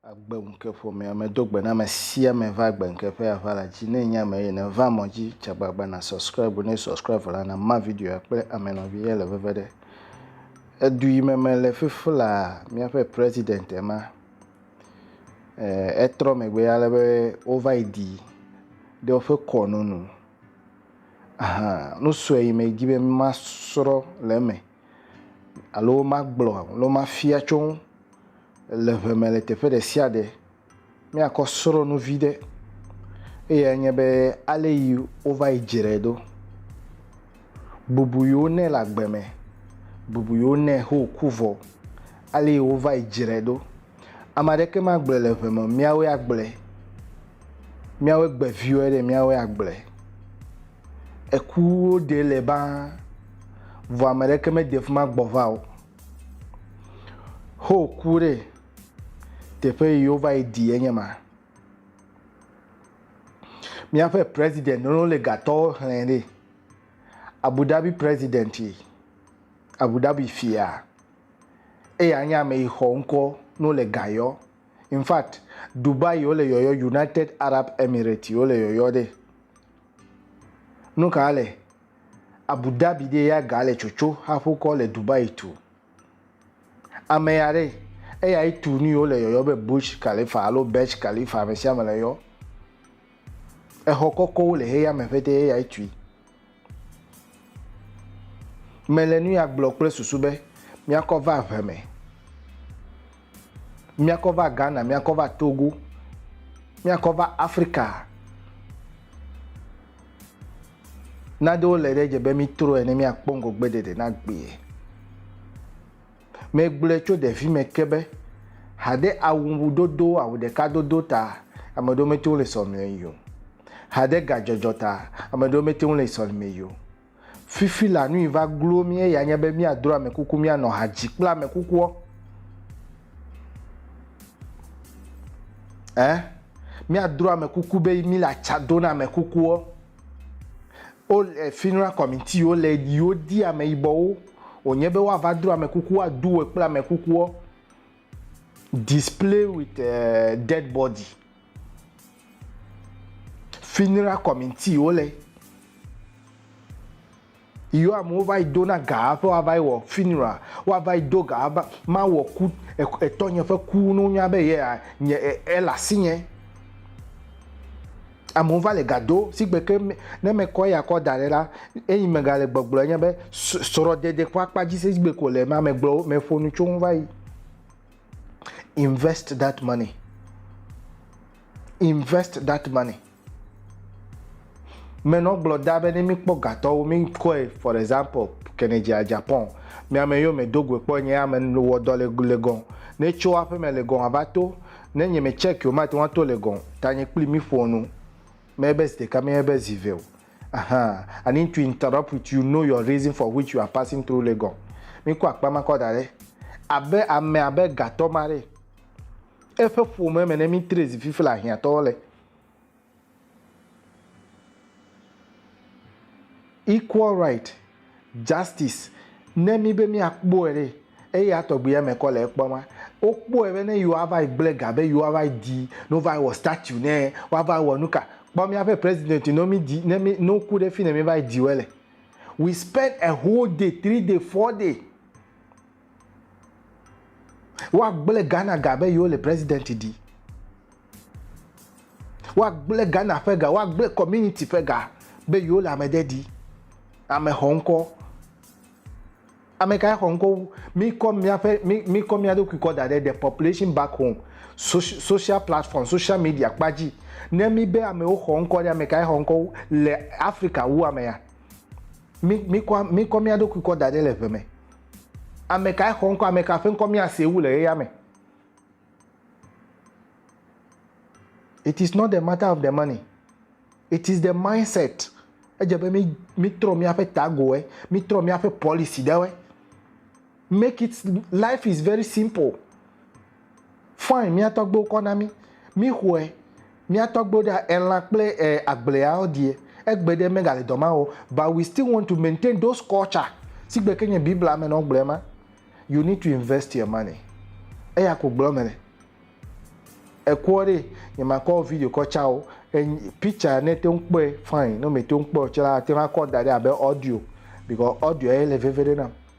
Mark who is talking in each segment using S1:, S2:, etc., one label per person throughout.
S1: agbeŋkeƒomea medo gbe na ame sia ame va agbeŋkeƒea va la dzi ne nye ame ye ne va mɔ dzi tsa gbagba na subscribe ne subscribe la na ma video kple ame nɔvi ye le veve ɖe edu yi me mele fifi la miaƒe president ema Etrɔ megbe ale be wova yi ɖi ɖe woƒe kɔnu nu. Nu sue yi medzi be masrɔ̃ le eme alo magblɔ alo mafia tso eŋu le ŋe me le teƒe ɖe sia ɖe, míakɔ srɔ̃ nu vi ɖe. Eyae nye be, ale yi wova yi dzrae ɖo. Bubu yewo nɛ le agbe mɛ, bubu yewo nɛ xo ku vɔ, ale yi wo vayi jrɛ ɖo. Ame aɖeke ma gblɔɛ le ʋe me miawoe a gblɔɛ, miawoe gbe viwoe ɖe miawoe a gblɔɛ. Eku wo ɖe le ba vɔ ame ɖeke me de fima gbɔ va o. Xo ku ɖe teƒe yi wo vayi ɖi enye ma. Míaƒe president Nolo Legatɔwo xlẽ ɖi. Abu Dhabi president yi, Abu Dhabi fia. Eya nye ame yi xɔ ŋkɔ no le gayɔ. In fact, Dubai wole yɔyɔ, United Arab Emirates wole yɔyɔ ɖe. Nu ka le? Abu Dhabi ɖe ya ga le tsotso haƒokɔ le Dubai tu. Ame ya ɖe, eyae tu nu yiwo le yɔyɔ be Burj Khalifa alo Burj Khalifa, ame sia ame le yɔ. Exɔ kɔkɔwo le xexeame ƒete eyae tui. Mele nu ya gblɔ kple susu be míakɔ va ʋe me. Míakɔ va Ghana, míakɔ va Togo, míakɔ va Afrika. Naɖewo le ɖe dze be mítrɔe ne míakpɔ ŋgɔgbeɖeɖe na gbee. Megblɔe tso ɖevime ke be haɖe awudodo, awu ɖeka dodo ta ame ɖewo mete ŋu le sɔlime yi o. Haɖe gadzɔdzɔ ta ame ɖewo mete ŋu le sɔlime yi o. Fifi la nui va glo mí eya nye be míadro ame kuku míanɔ ha dzi kple ame kukuɔ. Ɛ? Míadro ame kuku be míle atsa do na ame kukuɔ. O le funeral committee wo le yi wodi ameyibɔwo wònye be woava dro ame kuku woadu wɔ kple ame kukuɔ. display with uh, dead body funeral committee wo le yio amewo va yi do na gaa ƒe woava yi wɔ funeral woava yi do gaa va ma wɔ ku etɔnye ƒe ku no nya be yea nye ele asinye amewo va le ga do sigbe ke me ne mekɔ eya kɔ da ɖe la, eyi megale gbɔgblɔ nye be srɔ̃dede ƒe akpa dzi se sigbe ko le ma megblɔ meƒo nu tso ŋu va yi. Invest that money. Invest that money. Menɔ gblɔ da be ne mikpɔ gatɔwo mikɔe for example Kennedy a Japan miame yio me do goe kpɔ nye ame wɔ dɔ le le gɔn ne tso aƒe me le gɔn ava to Ne nye me check o mate ŋu ato le gɔn ta nye kpli mi ƒoa nu me be zi ɖeka me ebe zi ve o ahan I need to interrupt with you know your reason for which you are passing through le gɔn mi kɔ akpa ma kɔ da ɖe abe ame abe gatɔ ma ɖe eƒe ƒome me ne mi tre zi fifi le ahiã tɔwo le. Equal right, justice, ne mí be mía kpɔe ɖe, eya tɔgbi ya me kɔ le ekpɔ ma. Wo kpɔe be ne yewoa va yi gble ga be yewoa va yi ɖi, ne wo va yi wɔ statue nɛ, woa va yi wɔ nuka. Kpɔ mía ƒe president ne mí ɖi, ne mí, ne wo ku ɖe fine mí va yi ɖi woe le. We spend a whole day, three day, four day. Woagblẽ Ghana ga be yewole president ɖi. Woagblẽ Ghana ƒe ga, woagblẽ community ƒe ga be yewole ame ɖe ɖi. Ame xɔ ŋkɔ. Ame kae xɔ ŋkɔ wu? Mikɔ míaƒe mikɔ mía ɖokui kɔ da ɖe the population back home social platform social media kpa dzi. Ne míbe amewo xɔ ŋkɔ ɖe ame kae xɔ ŋkɔ wu le Africa wu amea? Mikɔ mikɔ mía ɖokui kɔ da ɖe le ʋe me. Amekae xɔ ŋkɔ, ameka ƒe ŋkɔ míasee wu le ɣeya me? It is not the matter of the money, it is the mindset. Edze be mi mi trɔ míaƒe tagoe, mi trɔ míaƒe policy ɖewoe. Make it, life is very simple. Fine mía tɔgbewo kɔ na mí, mí xɔɛ, mía tɔgbewo ɖa elã kple e agbleawo ɖie, egbe ɖe megale dɔ ma wɔ o, but we still want to maintain those culture sigbe ke nye Biblia me nɔ gblɔe ma, you need to invest your money, eya ko gblɔ mele. Ekuɔ ɖee, nye ma kɔ video kɔ tsa wo, enyi picture ne te ŋu kpɔe fine, ne me te ŋu kpɔe o tse la ate ŋu akɔ da ɖe abe audio, because audio ye le veve ɖe nam.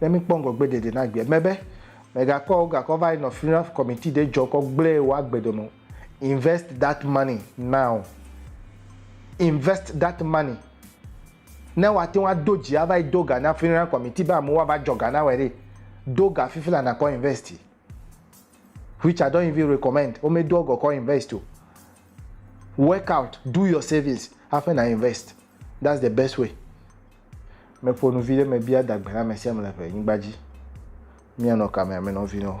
S1: Ne míkpɔ ŋgɔgbe ɖeɖe na gbea, mebe, megakɔ gakɔ va yi nɔ funeral committee ɖe dzɔ kɔ gblẽ wo agbe dɔ nɔ. Invest that money now. Invest that money. Ne woate ŋu ado dzi ava yi do ga na funeral committee be amewo ava dzɔ ga na wɔe ɖe, do ga fifi la nakɔ investi. which I don't even recommend. Wome do ɔgɔ kɔ invest o. Work out, do your savings, hafi na invest. That's the best way. Me ƒo nu vi ɖe me bia dagbe na me sia me le ƒe nyigba dzi. Mia nɔ kame ame nɔ vi nɔ.